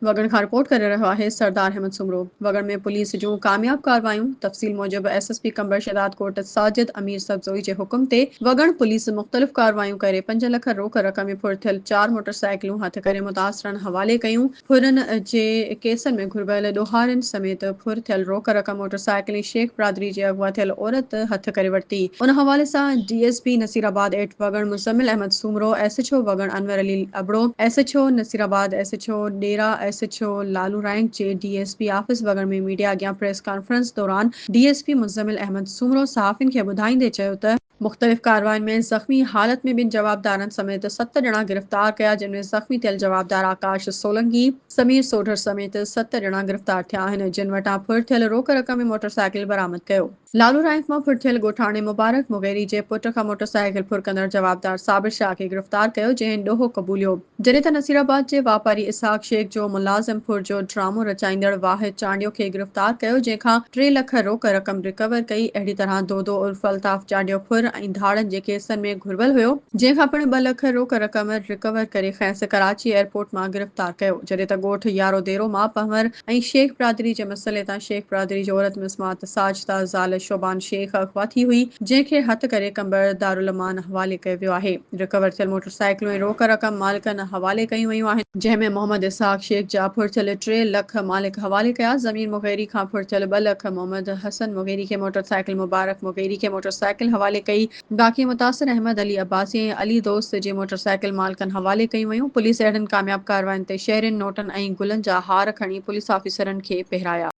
وڳڻ کان رپورٽ ڪري رهيو آهي سردار احمد سومرو. وڳڻ ۾ پوليس جون ڪامياب ڪارروايون، تفصيل موجب S S P Qambar Shahdad Kot Sajid Amir Sabzoi جي حڪم تي وڳڻ پوليس مختلف ڪارروايون ڪري پنج لک روڪ رقم ۾ ڦر ٿيل چار موٽر سائيڪلون هٿ ڪري متاثرن حوالي ڪيون، ڦرن جي ڪيسن ۾ گهربل ڏوهارين سميت ڦر ٿيل روڪ رقم موٽر سائيڪل ۽ شيخ برادري جي اغوا ٿيل عورت هٿ ڪري ورتي، ان حوالي سان D S P Naseerabad at Wagan Muzammil Ahmed Soomro, S H O Wagan Anwar Ali, Abro S H O Naseerabad, S H O Dera, S H O Lalu رائينڪ جي D S P office Wagan ۾ media اڳيان پريس ڪانفرنس دوران D S P Muzammil Ahmed Soomro صحافين کي ٻڌائيندي چيو ته، مختلف ڪاررواين ۾ زخمي حالت ۾ ٻن جوابدارن سميت ست ڄڻا گرفتار ڪيا جن ۾ زخمي ٿيل جوابدار آڪاش سولنگي، سمير سوڍر سميت ست ڄڻا گرفتار ٿيا آهن جن وٽان ڦر ٿيل روڪ رقم ۽ موٽرسائيڪل برآمد ڪيو. لالو رائينڪ مان ڦر ٿيل ڳوٺاڻي مبارڪ مغيري جي پٽ کان موٽر سائيڪل ڦر ڪندڙ جوابدار صابر شاهه کي گرفتار ڪيو جنهن ڏوهه قبوليو جڏهن ته نصير آباد جي واپاري اسحاق شيخ جو ملازم ڦر جو ڊرامو رچائيندڙ واحد چانڊيو کي گرفتار ڪيو جنهن کان ٽي لک روڪ رقم رڪور ڪئي اهڙي طرح دودو عرف الطاف چانڊيو ڦر ۽ ڌاڙن جي ڪيسن ۾ گهربل هيو جنهن کان پڻ ٻه لک روڪ رقم رڪور ڪري کينس ڪراچي ايئرپورٽ مان گرفتار ڪيو جڏهن ته ڳوٺ يارو ديرو مان پنهور ۽ شيخ برادري جي مسئلي تان شيخ برادري جي عورت مزمات ساجده زال شعبان شيخ اغوا ٿي هئي جنهن کي هٿ ڪري قمبر دارالامان حوالي ڪيو ويو آهي رڪور ٿيل موٽر سائيڪلون ۽ روڪ رقم مالڪن حوالي ڪيون ويون آهن جنهن ۾ محمد اسحاق شيخ جا ڦڙٿيل ٽي لک مالڪ حوالي ڪيا ضمير مغيري کان ڦڙٿيل ٻه لک محمد حسن مغيري کي موٽر سائيڪل مبارڪ مغيري کي موٽر سائيڪل حوالي ڪئي باقي متاثر احمد علي عباسي ۽ علي دوست جي موٽرسائيڪل مالڪن حوالي ڪيون ويون، پوليس اهڙين ڪامياب ڪاررواين تي شهرين نوٽن ۽ گلن جا هار کڻي پوليس آفيسرن کي پهرايا.